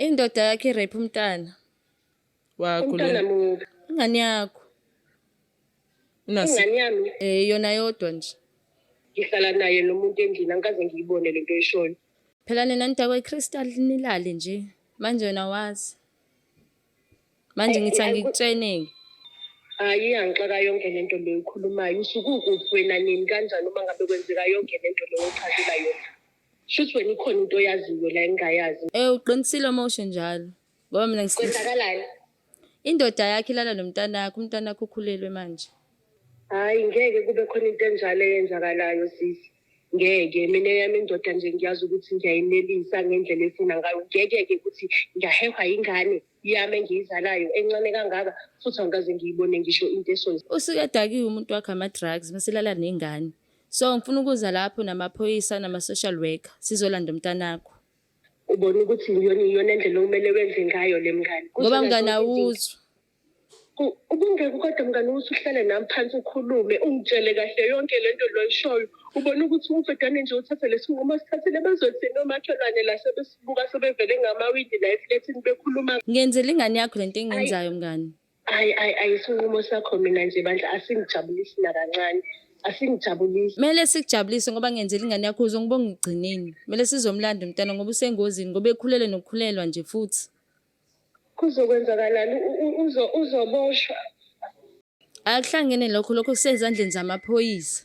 Indoda yakhe irape umntana wakho umntana lena. muphi Ingane yakho. Unasi- ingane yami Eh yona yodwa nje. ngihlala naye nomuntu endlini angikaze ngiyibone le nto oyishoyo Phela nina nidakwe iCrystal nilale nje. Manje wena wazi. Manje Ay, ngithi ay, ku- angikutsheneki. hhayi angixaka yonke le nto leyo ukhulumayo usukukuphi wena nini kanjani uma ngabe kwenzeka yonke le nto leyo ochazela yona Shuthi wena ikhona into oyaziyo la engingayazi. Eh uqinisile uma usho njalo. Ngoba mina ngis- Kwenzakalani? indoda yakhe ilala nomntanakho, umntanakho ukhulelwe manje. Hayi ngeke kube khona into enjalo eyenzakalayo sisi. Ngeke mina yami indoda nje ngiyazi ukuthi ngiyayinelisa ngendlela efuna ngayo. Ngeke ke ukuthi ngiyahehwa ingane yami engiyizalayo encane kangaka futhi angikaze ngiyibone ngisho into esonza. Usuke edakiwe umuntu wakhe ama-drugs, mase ilala nengane. So ngifuna ukuza lapho namaphoyisa nama-social worker sizolanda umntanakho. Ubona ukuthi iyona iyona ndlela okumele wenze ngayo le mngane. Ngoba mngane awuzwa. Ku- Ubungeke kodwa mngane ukuthi uhlale nami phansi ukhulume ungitshele kahle yonke le nto loyishoyo. Ubona ukuthi umfedane nje uthathe lesinqumo sithathele bazothini omakhelwane la sebesibuka sebevele ngamawindi la eflethini bekhuluma Ngenzela ingane yakho lento engiyenzayo mngane. Ayi ayi ayi isinqumo sakho mina nje bandla asingijabulisi nakancane. Asingijabulisi. Kumele sikujabulise ngoba ngenzela ingane yakho uze ngibonge ekugcineni. Kumele sizomlanda umntana ngoba usengozini ngoba ekhulele nokukhulelwa nje futhi. Kuzokwenzakalani U- u- uzo- uzoboshwa? Akuhlangene lokho lokho kusezandleni zamaphoyisa.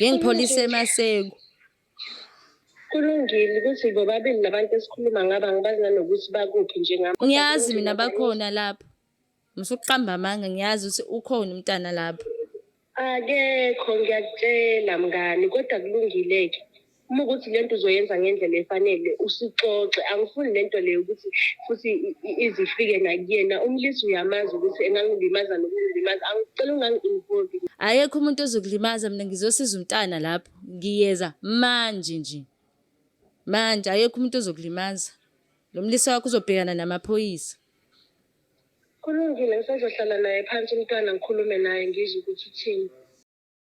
ngengipholisa emaseku kulungile ukuthi bobabili labantu esikhuluma ngaba ngibazi nanokuthi bakuphi njengami ngiyazi mina bakhona lapho ngisukuqamba amanga ngiyazi ukuthi ukhona umntana lapho akekho ngiyakutshela mngani kodwa kulungile-ke uma ukuthi lento uzoyenza ngendlela efanele usixoxe angifuni lento leyo ukuthi futhi izifike nakuyena umlisa uyamazi ukuthi engangilimaza nokungilimaza angicela ungangi-involve ayekho umuntu ozokulimaza mina ngizosiza umntana lapho ngiyeza manje nje manje ayekho umuntu ozokulimaza lo mlisa wakho uzobhekana namaphoyisa kulungile ngisazohlala naye phansi umntwana ngikhulume naye ngizwe ukuthi uthini